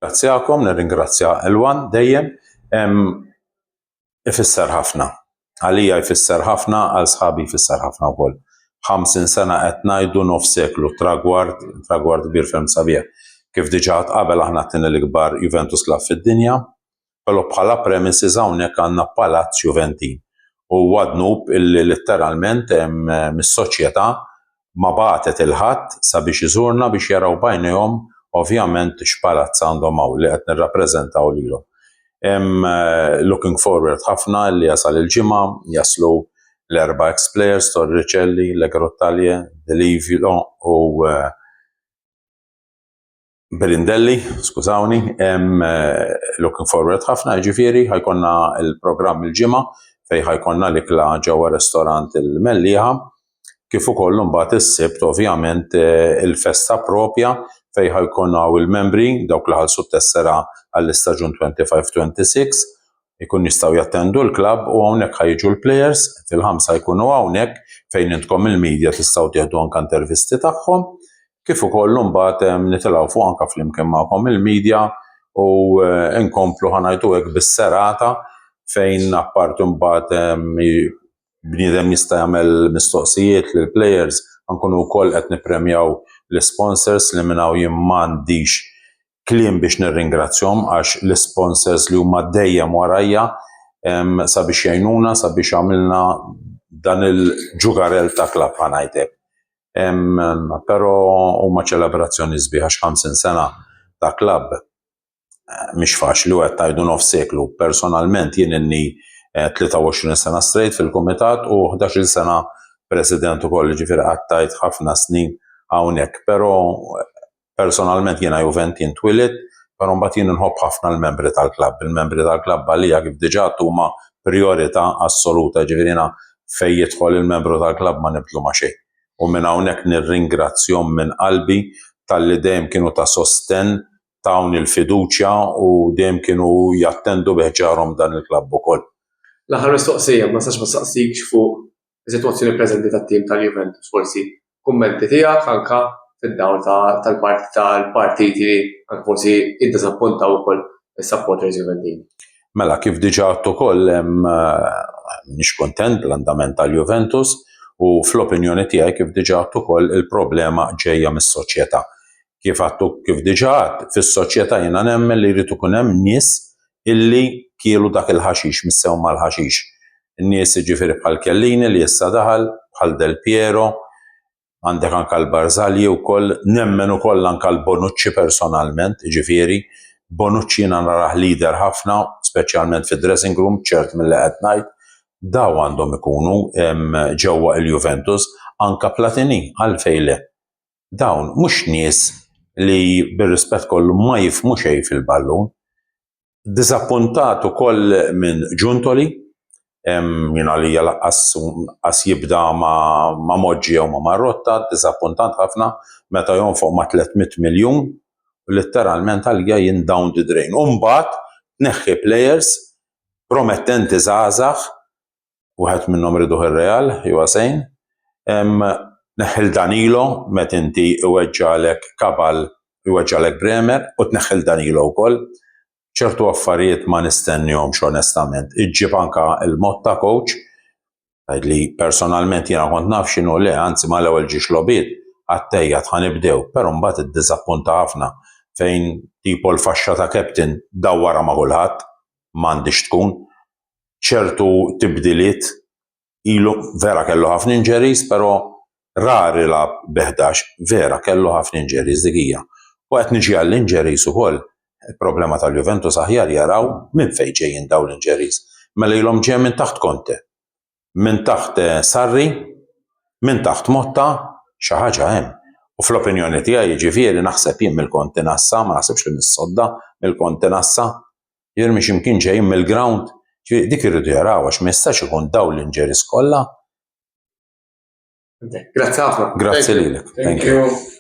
Nirringrazzjakom, nirringrazzja Elwan dejjem. Ifisser ħafna. Għalija jfisser ħafna, għal sħabi jfisser ħafna wkoll. Ħamsin sena qed ngħidu nofs seklu, tragward, tragward kbir ferm sabiħ. Kif diġà għad qabel aħna t-tieni l-ikbar Juventus Club fid-dinja, però bħala premises hawnhekk għandna Palazz Juventin u huwa dnub illi litteralment mis-soċjetà ma bagħtet il-ħadd sabiex iżurna biex jaraw b'għajnejhom ovvjament x'palazz għandhom hawn li qed nirrappreżentaw lilhom. Looking forward ħafna illi jasal il-Ġimgħa, jaslu l-erba' ex players, Torricelli, Le Grottaglie, Delivio u Birindelli, skużawni, hemm eh, looking forward ħafna, ġifieri ħajkonna il-programm il-ġimgħa fejn ħajkonna l-ikla ġewwa restorant il-Mellieħa, kif ukoll mbagħad is-sibt ovvjament eh, il-festa propja fejn ħajkonna il-membri dawk li ħalsu tessera għall-istaġun 25-26 ikun jistgħu jattendu l-klabb u hawnhekk ħa jiġu l-plejers fil-ħamsa jkunu hawnhekk fejn intkom il-media tistgħu tieħdu anke intervisti tagħhom kif ukoll mbagħad ehm, nitilgħu fuq anke flimkien magħkom il-media u eh, nkomplu ħanajtu hekk bis-serata fejn apparti mbagħad ehm, bniedem jista' jagħmel mistoqsijiet lill players ankunu wkoll qed nippremjaw l-sponsors li minnaw jien m'għandix kliem biex nirringrazzjahom għax l-isponsors li huma dejjem warajja sabiex jgħinuna sabiex għamilna dan il-ġugarell ta' klab ħanajtek. Pero huma ċelebrazzjoni sbieħa x'50 sena ta' klab eh, mhix faċli u qed tajdu nof seklu. Personalment jien inni 23 eh, sena straight fil-kumitat u 11 sena president ukoll ġifier qattajt ħafna snin hawnhekk, pero eh, Personalment jiena Juventini twielidt, però mbagħad jien inħobb ħafna l-membri tal-klabb. Il-membri tal-klabb għalija kif diġà għedt huma prijorità assoluta, jiġifieri jiena fejn jidħol il-membru tal-klabb ma nibdlu ma' xejn. U minn hawnhekk nirringrazzjhom minn qalbi talli dejjem kienu ta' sostenn, tawni l-fiduċja u dejjem kienu jattendu bi ħġarhom dan il-klabb ukoll. L-aħħar mistoqsija, ma nistax ma nsaqsikx fuq is-sitwazzjoni preżenti tat-tim tal-Juventus forsi kummenti tiegħek anke fid-dawl tal-parti tal-partiti li anke forsi iddiżappuntaw ukoll is-supporters Juventini. Mela, kif diġà għadt ukoll hemm nix kuntent bl-andament tal-Juventus u fl-opinjoni tiegħi kif diġà għadt ukoll il-problema ġejja mis-soċjetà. kif għattu kif diġà għadd, fis-soċjetà jiena nemmen li jrid ikun hemm nies illi kielu dak il-ħaxix, missew mal-ħaxix. Nies jiġifieri bħal Chiellini li issa daħal, bħal Del Piero, għandek anke l-Barzagli wkoll, nemmen ukoll anke l-Bonucci personalment, jiġifieri Bonucci jiena narah leader ħafna, speċjalment fid-dressing room, ċert milli qed ngħid, daw għandhom ikunu ġewwa il-Juventus, anke Platini, għalfejn le? dawn mhux nies li bir-rispett kollu ma jifhmu xejn fil-ballun. Diżappuntat ukoll minn Giuntoli, jien għalija laqqas qas jibda ma, ma Moġġi jew ma Marrotta, diżappuntant ħafna meta jonfoq ma' 300 miljun u litteralment għalija jien down the drain. U mbagħad tneħħi players promettenti żgħażagħ wieħed minnhom riduh ir-Real, jew Asejn, neħħil Danilo met inti iweġġalek Kabal iweġġalek Bremer u tneħħil Danilo wkoll. ċertu affarijiet ma nistennihomx onestament. Iġġib anka l-Motta coach li personalment jiena kont naf x'inhu le, anzi ma l-ewwel ġiex lobiet għattejja tħan ibdew, però mbagħad iddiżappunta ħafna fejn tipo l-faxxa ta' captain dawwara ma' kulħadd m'għandix tkun ċertu tibdiliet ilu vera kellu ħafna injuries, però rari lab beħdax, vera kellu ħafna injuries dik hija. U qed niġi għall-injuries ukoll, il-problema tal-Juventus aħjar jaraw minn fejn ġejjin dawn l-injuries. Mela ilhom ġejja minn taħt Conte, minn taħt Sarri, minn taħt Motta, xi ħaġa hemm. U fl-opinjoni tiegħi jiġifieri naħseb jien mill-kontinassa, ma naħsibx li mis-sodda, mill-kontinassa, jirmi x'imkien ġejjin mill-ground, ġifieri dik irridu jarawha għax ma jistax ikun dawn l-injuries kollha. Grazzi ħafna. Grazzi lilek. Thank you.